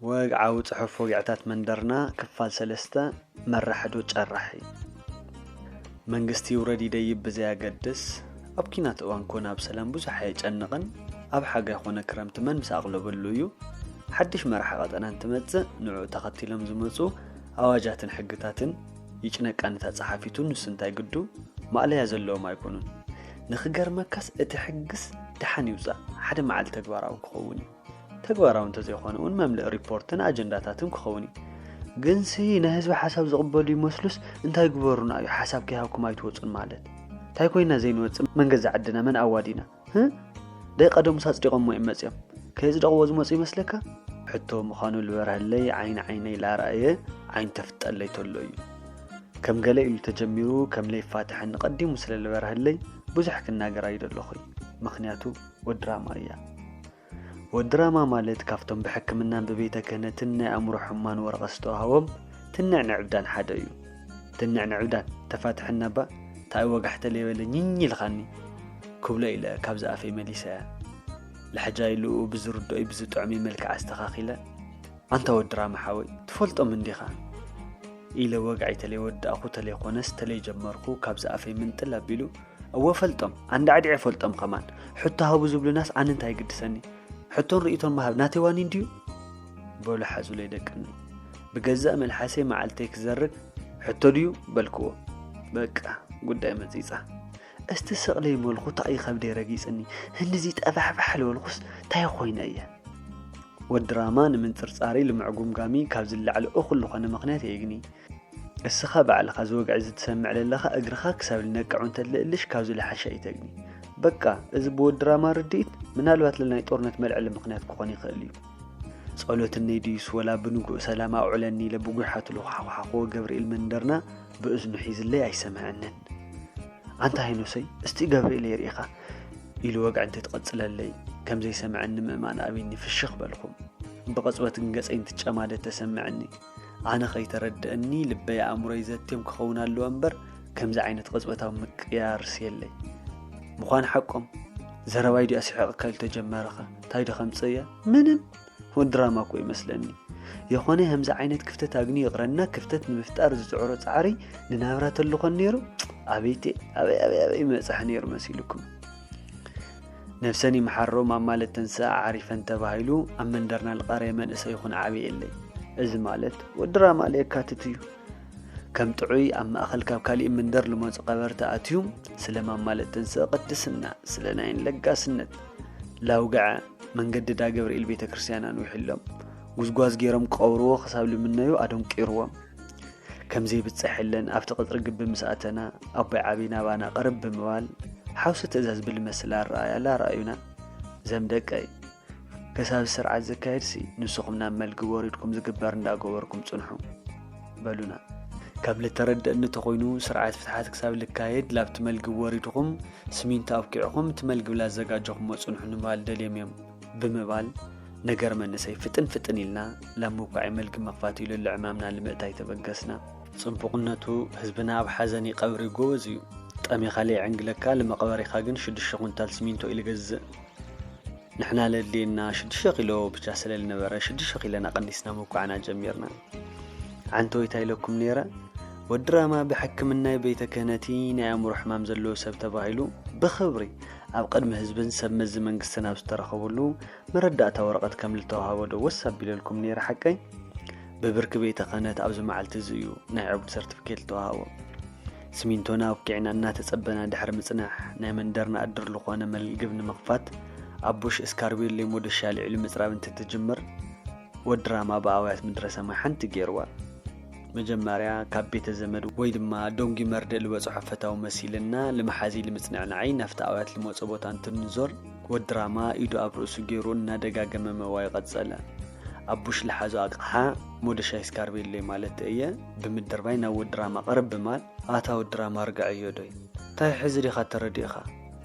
ወግዓዊ ጽሑፍ ወግዕታት መንደርና ክፋል ሰለስተ መራሕዶ ጨራሒ መንግስቲ ይውረድ ይደይብ ብዘያገድስ ኣብ ኪናት እዋን ኮነ ኣብ ሰላም ብዙሕ ኣየጨንቕን ኣብ ሓጋይ ኮነ ክረምቲ መን ምስ ኣቕለበሉ እዩ ሓድሽ መራሒ ቀጠና እንትመጽእ ንዕኡ ተኸቲሎም ዝመፁ ኣዋጃትን ሕግታትን ይጭነቃ ነታ ጸሓፊቱ ንሱ እንታይ ግዱ ማእለያ ዘለዎም ኣይኮኑን ንኽገርመካስ እቲ ሕግስ ደሓን ይውጻእ ሓደ መዓልቲ ተግባራዊ ክኸውን እዩ ተግባራዊ እንተዘይኮነ እውን መምልእ ሪፖርትን ኣጀንዳታትን ክኸውን እዩ ግንሲ ናይ ህዝቢ ሓሳብ ዝቕበሉ ይመስሉስ እንታይ ግበሩና እዩ ሓሳብ ከይሃብኩም ኣይትወፁን ማለት እንታይ ኮይና ዘይንወፅእ መንገዛ ዓድና መን ኣዋዲና ደይ ቀደሙስ ኣጽዲቖሞ እዮም መጺኦም ከየጽደቕዎ ዝመፁ ይመስለካ ሕቶ ምዃኑ ዝበርሃለይ ዓይኒ ዓይነይ ላርኣየ ዓይኑ ተፍጠለይ ተሎ እዩ ከም ገለ ኢሉ ተጀሚሩ ከም ለይፋትሐኒ ቀዲሙ ስለ ዝበርሃለይ ብዙሕ ክናገር ኣይደለኹይ ምክንያቱ ወድራማ እያ ወድራማ ማለት ካብቶም ብሕክምናን ብቤተ ክህነትን ናይ ኣእምሮ ሕሙማን ወረቐት ዝተዋህቦም ትንዕ ንዕብዳን ሓደ እዩ። ትንዕ ንዕብዳን ተፋትሐና እባ ታኣይ ወጋሕተ ለይበለ ኝኝ ኢልኻኒ ክብሎ ኢለ ካብዚ ኣፈይ መሊሰያ። ልሕጃይ ልኡ ብዝርድኦይ ብዝጥዕመይ መልክዕ ኣስተኻኺለ ኣንታ ወድራማ ሓወይ ትፈልጦም እንዲኻ ኢለ ወግዐይ ተለይ ወዳእኹ ተለይ ኾነስ ተለይ ጀመርኩ ካብዚ ኣፈይ ምንጥል ኣቢሉ እወ ፈልጦም ኣንዳዕዲዐ ፈልጦም ከማን ሕቶ ሃቡ ዝብሉናስ ኣነ እንታይ ግድሰኒ ሕቶን ርእቶን ምሃብ ናተይ ዋኒን ድዩ በሉ ሓዙለይ ደቅኒ ብገዛእ መልሓሰይ መዓልተይ ክዘርግ ሕቶ ድዩ በልክዎ በቃ ጉዳይ መፂፃ እስቲ ስቕለይ መልኩ ታእይ ከብደይ ረጊፅኒ ህንዚ ጠፋሕፋሕ ልበልኩስ ታይ ኮይነ እየ ወድራማ ንምንፅርፃሪ ልምዕጉምጋሚ ካብ ዝለዓለ እኹል ዝኾነ ምኽንያት የግኒ እስኻ ባዕልኻ እዚ ወግዒ እዚ ትሰምዕ ለለኻ እግርኻ ክሳብ ልነቅዕ እውን ተድልእልሽ ካብዚ ልሓሸ ኣይተግኒ። በቃ እዚ ብወዲ ራማ ርድኢት ምናልባት ለናይ ጦርነት መልዐሊ ምኽንያት ክኾን ይኽእል እዩ። ጸሎት እነይ ድዩስ ወላ ብንጉእ ሰላም ኣውዕለኒ ኢለ ብጒሓቱ ልኹሓኹሓኹዎ ገብርኤል መንደርና ብእዝኑ ሒዝለይ ኣይሰምዐንን። ኣንታ ሄኖሰይ እስቲ ገብርኤል የርእኻ ኢሉ ወግዒ እንተይትቐጽለለይ ከምዘይሰምዐኒ ምእማን ኣብኒ ፍሽኽ በልኹ። ብቐጽበት ግን ገጸይ እንትጨማደድ ተሰምዐኒ። ኣነ ከይተረድእኒ ልበይ ኣእምሮይ ዘትዮም ክኸውን ኣለዎ እምበር ከምዚ ዓይነት ቕፅበታዊ ምቅያርስ የለይ ምዃን ሓቆም ዘረባይ ዲኣ ስሕቕካ ኢሉ ተጀመረኸ እንታይ ዶ ከምፅእ እያ ምንም ውን ድራማ እኮ ይመስለኒ የኾነ ከምዚ ዓይነት ክፍተት ኣግኒ ይቕረና ክፍተት ንምፍጣር ዝፅዕሮ ፃዕሪ ንናብራ ተልኾን ነይሩ ኣበይቴ ኣበይ ኣበይ ኣበይ መፅሐ ነይሩ መሲልኩም ነብሰን ይምሓሮ ማማ ለተንስኣ ዓሪፈን ተባሂሉ ኣብ መንደርና ልቐረየ መንእሰይ ይኹን ዓብየ የለይ። እዚ ማለት ወዲ ራማ ለየካትት እዩ። ከም ጥዑይ ኣብ ማእኸል ካብ ካሊእ መንደር ልመፁ ቀበርቲ ኣትዩ ስለ ማማ ለተንስኣ ቅድስና ስለ ናይን ለጋስነት ላውግዐ መንገዲ ዳገብርኤል ቤተ ክርስቲያን ኣንዊሕሎም ጉዝጓዝ ገይሮም ክቐብርዎ ክሳብ ልምነዩ ኣደንቂርዎም። ከምዘይብጸሐለን ኣብቲ ቅጽሪ ግቢ ምስ ኣተና ኣቦይ ዓብይ ናባና ቅርብ ብምባል ሓውሲ ትእዛዝ ብልመስል ኣረኣያላ ኣረኣዩና ዘም ደቀይ ከሳብ ስርዓት ዘካየድሲ ንስኹም ናብ መልግብ ወሪድኩም ዝግበር እንዳገበርኩም ጽንሑ በሉና ከም ልተረድእኒ ተኾይኑ ስርዓት ፍትሓት ክሳብ ልካየድ ላብቲ መልግብ ወሪድኹም ስሚንቶ ኣብኪዕኹም እቲ መልግብ ላዘጋጀኹሞ ፅንሑ ንምባል ደልዮም እዮም ብምባል ነገር መንእሰይ ፍጥን ፍጥን ኢልና ላብ መውቃዒ መልጊ መኽፋት ኢሉ ልዕማምና ልምእታይ ተበገስና። ጽቡቕነቱ ህዝብና ኣብ ሓዘኒ ቀብሪ ጎበዝ እዩ። ጠሚኻ ለይዕንግለካ ልመቐበሪኻ ግን ሽዱሽተ ኩንታል ሲሚንቶ እዩ ልገዝእ። ንሕና ለድልየና ሽዱሽተ ኪሎ ብቻ ስለልነበረ ሽዱሽተ ኪሎና ቀኒስና መውቃዕና ጀሚርና። ዓንተወይ ታይ ኢለኩም ነይረ ወዲ ራማ ብሕክምናይ ቤተ ክህነቲ ናይ ኣእምሮ ሕማም ዘለዎ ሰብ ተባሂሉ ብኽብሪ ኣብ ቅድሚ ህዝብን ሰብ መዚ መንግስትን ኣብ ዝተረኸብሉ መረዳእታ ወረቐት ከም ዝተዋሃቦ ዶ ወስ ኣቢለልኩም ነይረ ሓቀይ ብብርኪ ቤተ ክህነት ኣብዚ መዓልቲ እዚ እዩ ናይ ዕቡድ ሰርቲፊኬት ዝተዋሃቦ ስሚንቶና ኣብኪዕና እናተጸበና ድሕሪ ምጽናሕ ናይ መንደርና እድር ዝኾነ መልግብ ንምኽፋት ኣብ ቡሽ እስካርቢዮሌ ሞደሻ ልዒሉ ምጽራብ እንትትጅምር ወዲ ራማ ብኣውያት ምድረ ሰማይ ሓንቲ ገይርዋ መጀመርያ ካብ ቤተ ዘመድ ወይ ድማ ደንጒ መርድእ ዝበጽሖ ፈታዊ መሲልና ልመሓዚ ልምጽንዕናዓይ ናፍቲ ኣውያት ልመጾ ቦታ እንትንዞር ወዲ ራማ ኢዱ ኣብ ርእሱ ገይሩ እናደጋገመ መዋዩ ቀጸለ ኣቡሽ ልሓዞ ኣቕሓ ሞደሻይ ስካርቤሎይ ማለት እየ ብምድርባይ ናብ ወዲ ራማ ቅርብ ብማል ኣታ ወዲ ራማ ርግዐዮ ዶይ እንታይ ሕዚ ዲኻ ተረዲእኻ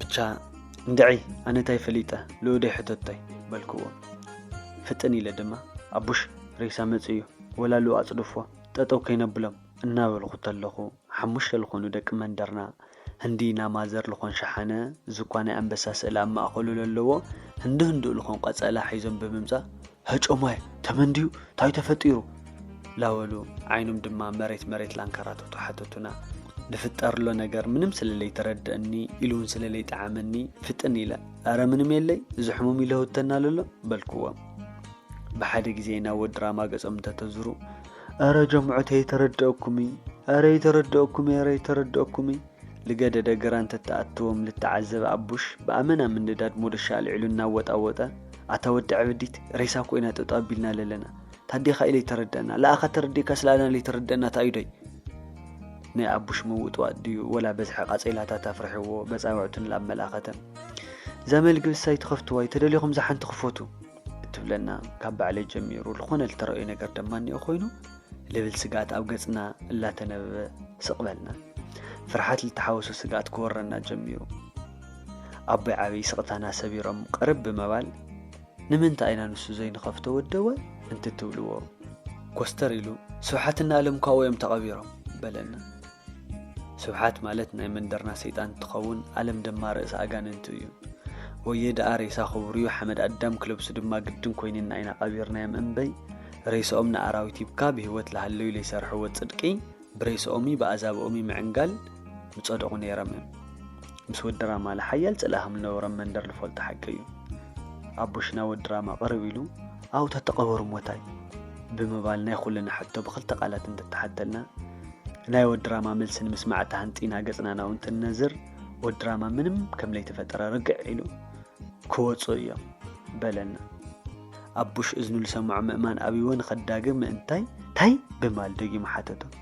ብቻ እንድዒ ኣነ እንታይ ፈሊጠ ልኡደይ ሕተቶይ በልክዎ ፍጥን ኢለ ድማ ኣቡሽ ሬሳ መፅ እዩ ወላ ልኡ ኣፅድፎ ጠጠው ከይነብሎም እናበልኩ ተለኹ ሓሙሽተ ልኾኑ ደቂ መንደርና ህንዲ ናማዘር ልኾን ሸሓነ ዝኳ ናይ ኣንበሳ ስእሊ ኣብ ማእኸሉ ለለዎ ህንዲ ህንዱ ልኾን ቐፀላ ሒዞም ብምምፃእ ሀጮማይ ተመን ድዩ ታይ ተፈጢሩ ላበሉ ዓይኖም ድማ መሬት መሬት ላንከራተቱ ሓተቱና ልፍጠርሎ ነገር ምንም ስለለይተረድእኒ ኢሉውን ስለለይጠዓመኒ ፍጥን ኢለ ኣረ ምንም የለይ እዚ ሕሙም ይለውተና ለሎ በልክዎም ብሓደ ግዜ ናብ ወዲ ራማ ገጾም እንተተዝሩ ኣረ ጀምዑት ኣይተረድአኩምይ ኣረ ይተረድአኩምይ ኣረ ይተረድአኩምይ ልገደደ ግራ እንተትኣትዎም ልተዓዘበ ኣቡሽ ብኣመና ምንዳድ ሞዶሻ ኣልዒሉ እናወጣወጠ፣ ኣታ ወዲ ዕብዲት፣ ሬሳ ኮይና ጠጠው ኣቢልና ለለና። ታዴኻ ኢለይ ተረደኣና፣ ለኣኻ ተረዲእካስ ለኣና ለይተረደኣና ታኢዶይ? ናይ ኣቡሽ ምውጥዋጥ ድዩ ወላ በዝሒ ቃጼላታት ኣፍሪሕዎ በጻብዕቱ ንላብ መላኸተ። እዛ መልግቢ ሳይ ትኸፍትዋይ ተደሊኹም እዛ ሓንቲ ክፈቱ። እትብለና ካብ ባዕለይ ጀሚሩ ዝኾነ ልተረእዩ ነገር ደማ እኒኦ ኮይኑ ልብል ስግኣት ኣብ ገጽና እላተነበበ ስቕበልና ፍርሓት ልተሓወሶ ስግኣት ክወረና ጀሚሩ ኣቦይ ዓብዪ ስቕታና ሰቢሮም ቅርብ ብምባል ንምንታይ ኢና ንሱ ዘይንኸፍቶ ወደወ እንትትብልዎ ኮስተር ኢሉ ስብሓትና ኣለም ኳኡ እዮም ተቐቢሮም በለና ስብሓት ማለት ናይ መንደርና ሰይጣን እንትኸውን ኣለም ደማ ርእሲ ኣጋንንቱ እዩ ወየ ደኣ ሬሳ ክቡርዩ ሓመድ ኣዳም ክለብሱ ድማ ግድን ኮይንና ኢና ቐቢርናዮም እምበይ ሬሰኦም ንኣራዊት ሂብካ ብህይወት ልሃለዩ ለይሰርሕዎ ጽድቂ ብሬሰኦምይ ብኣዛብኦምይ ምዕንጋል ምጸደቑ ነይረምም ምስ ወዲ ራማለ ሓያል ጽልኢ ከም ዝነበሮም መንደር ዝፈልጦ ሓቂ እዩ። ኣቦሽና ወዲ ራማ ቅርብ ኢሉ ኣው ተተቐበሩ ሞታይ? ብምባል ናይ ኩልና ሕቶ ብክልተ ቃላት እንተተሓተልና፣ ናይ ወዲ ራማ መልሲ ንምስማዕ ተሃንጢና ገጽና ናብኡ እንትንነዝር፣ ወዲ ራማ ምንም ከም ለይተፈጠረ ርግዕ ኢሉ፣ ክወጹ እዮም። በለና። ኣቡሽ እዝኑ ዝሰምዖ ምእማን ኣብይዎ ንኸዳግም ምእንታይ፣ ታይ? ብምባል ደጊሙ ሓተቶ።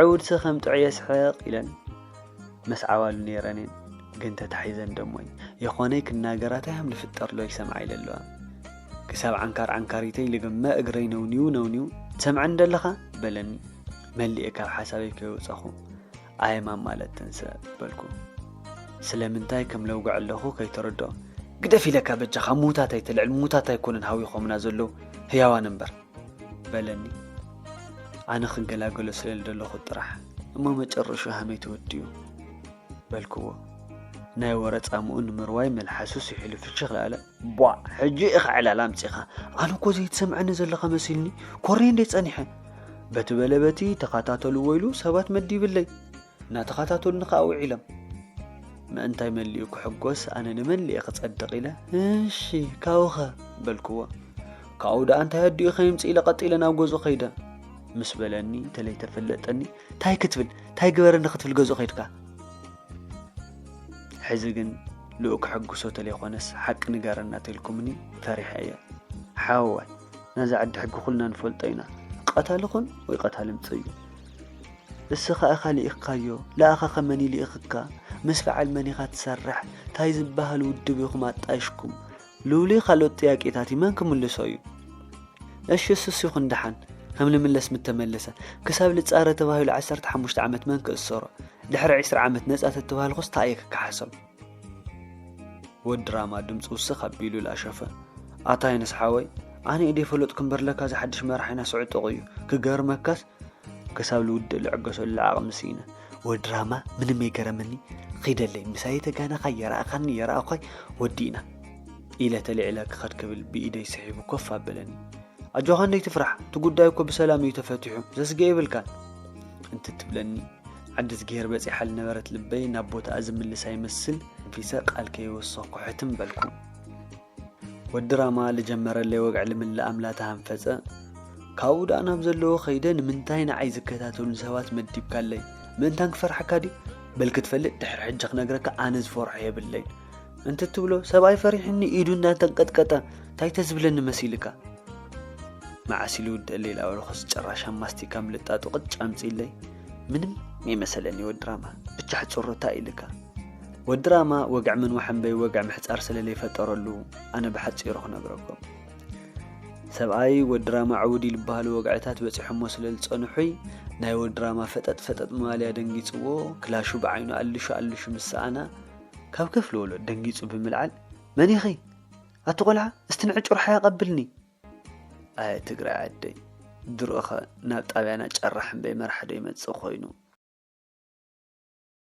ዕውድሲ ከም ጥዑየ ስሕቕ ኢለን ምስ ዓዋሉ ነይረን እየን ግን ተታሒዘን ደሞይ የኾነይ ክናገራተይ ሃም ልፍጠርሎይ ሰምዓ ኢለለዋ ክሳብ ዓንካር ዓንካሪተይ ልግመ እግረይ ነውኒው ነውኒው ትሰምዐኒ ደለኻ በለኒ መሊኤ ካብ ሓሳበይ ከይወፀኹ ኣየ ማማለት ተንሰ በልኩ ስለምንታይ ከም ለውግዕ ኣለኹ ከይተረድኦ ግደፍ ኢለካ በጃኻ ምዉታት ኣይተልዕል ምዉታት ኣይኮነን ሃዊኾምና ዘለዉ ህያዋን እምበር በለኒ ኣነ ክገላገሎ ስለ ደለኹ ጥራሕ እሞ መጨረሹ ሃመይ ተወዲኡ በልክዎ ናይ ወረ ጻምኡ ንምርዋይ መልሓሱ ስሒሉ ፍሽኽ ላለ ቧ ሕጂ ኢኻ ዕላል ኣምጺኻ ኣነ እኮ ዘይትሰምዐኒ ዘለኻ መሲልኒ ኮርኔ እንዴት ጸኒሐ በቲ በለ በቲ ተኸታተሉ ወይሉ ሰባት መዲብለይ እናተኸታተሉኒ ከዓ ውዒሎም ምእንታይ መሊኡ ክሕጎስ ኣነ ንመሊኤ ክጸድቕ ኢለ እሺ ካብኸ በልክዎ ካብኡ ደኣ እንታይ ኣዲኡ ከይምጽእ ኢለ ቀጥ ኢለ ናብ ገዝኡ ከይደ ምስ በለኒ ተለይተፈለጠኒ እንታይ ክትብል እንታይ ግበረኒ ክትብል ገዝኡ ከይድካ ሕዚ ግን ልኡ ክሕግሶ ተለይኮነስ ሓቂ ንገረና ተልኩምኒ ፈሪሐ እየ ሓወዋይ ነዚ ዓዲ ሕጊ ኩልና ንፈልጦ ኢና ቀታሊ ኹን ወይ ቀታሊ ምፅእ እዩ እስኻ እኻ ልኢኽካዮ ለኣኻ ኸመን ይልኢኽካ ምስ በዓል መን ኢኻ ትሰርሕ እንታይ ዝበሃል ውድብ ኢኹም ኣጣይሽኩም ሉሊ ካልኦት ጥያቄታቲ መን ክምልሶ እዩ እሺ እሱስ ይኹን ደሓን ከም ልምለስ ምተመለሰ ክሳብ ልጻረ ተባሂሉ ዓሰርተ ሓሙሽተ ዓመት መን ክእሰሮ ድሕሪ ዕስራ ዓመት ነጻ ተተባሃልኩስ ታይ እየ ክከሓሶም ወዲ ራማ ድምፂ ውስኽ ኣቢሉ ላሸፈ ኣታ የነስ ሓወይ ኣነ ኢደይ ፈለጥኩ እምበር ለካ እዚ ሓድሽ መራሒና ስዑጡቕ እዩ ክገርመካስ ክሳብ ልውድእ ልዕገሰሉ ዓቕሚ ስኢነ። ወዲ ራህማ ምንም የገረመኒ ኺደለይ ምሳይ ተጋናኻይ የረኣኻኒ የረኣዃይ ወዲእና ኢለ ተልዒለ ክኸድ ክብል ብኢደይ ስሒቡ ኮፍ ኣበለኒ። ኣጆኻ እንደይ ትፍራሕ እቲ ጉዳይ እኮ ብሰላም እዩ ተፈቲሑ ዘስገ የብልካን እንትትብለኒ ዓዲ ዝገሄር በፂሓ ዝነበረት ልበይ ናብ ቦታኣ ዝምልሳ ይመስል ፊሰ ቃል ከይወሰኹ ሕትም በልኩ። ወዲ ራማ ልጀመረለይ ወግዒ ልምልእ ኣምላ ተሃንፈጸ። ካብኡ ደኣ ናብ ዘለዎ ከይደ ንምንታይ ንዓይ ዝከታተሉን ሰባት መዲብካለይ? ምእንታን ክፈርሓካ ድዩ? በል ክትፈልጥ ድሕሪ ሕጂ ክነግረካ ኣነ ዝፈርሖ የብለይን እንትትብሎ ሰብኣይ ፈሪሕኒ ኢዱ እንዳተንቀጥቀጠ እንታይ ተዝብለኒ መሲልካ? መዓስ ኢሉ ውድእ ሌላ ወረኮስ ጭራሻ ማስቲካ ምልጣጡ ቅጭ ኣምጺለይ ምንም ይመሰለኒ ወድራማ ብቻ ሕጽሮታ ኢልካ ወዲ ራማ ወግዒ ምንዋሕ እምበይ ወግዒ ምሕጻር ስለ ለይፈጠረሉ ኣነ ብሓጺሩ ክነግረኩም ሰብኣይ ወዲ ራማ ዕውዲ ልበሃሉ ወግዕታት በጺሖሞ ስለ ዝጸንሑይ ናይ ወዲ ራማ ፈጠጥ ፈጠጥ ምባልያ ደንጊጽዎ ክላሹ ብዓይኑ ኣልሹ ኣልሹ ምስ ሰኣና ካብ ክፍሊ ወሎድ ደንጊጹ ብምልዓል መን ኢኺ ኣቲ ቆልዓ እስቲ ንዕጩር ሓያ ቀብልኒ ኣየ ትግራይ ዓደይ ድሮኸ ናብ ጣብያና ጨራሕ እምበይ መራሕዶ ይመጽእ ኮይኑ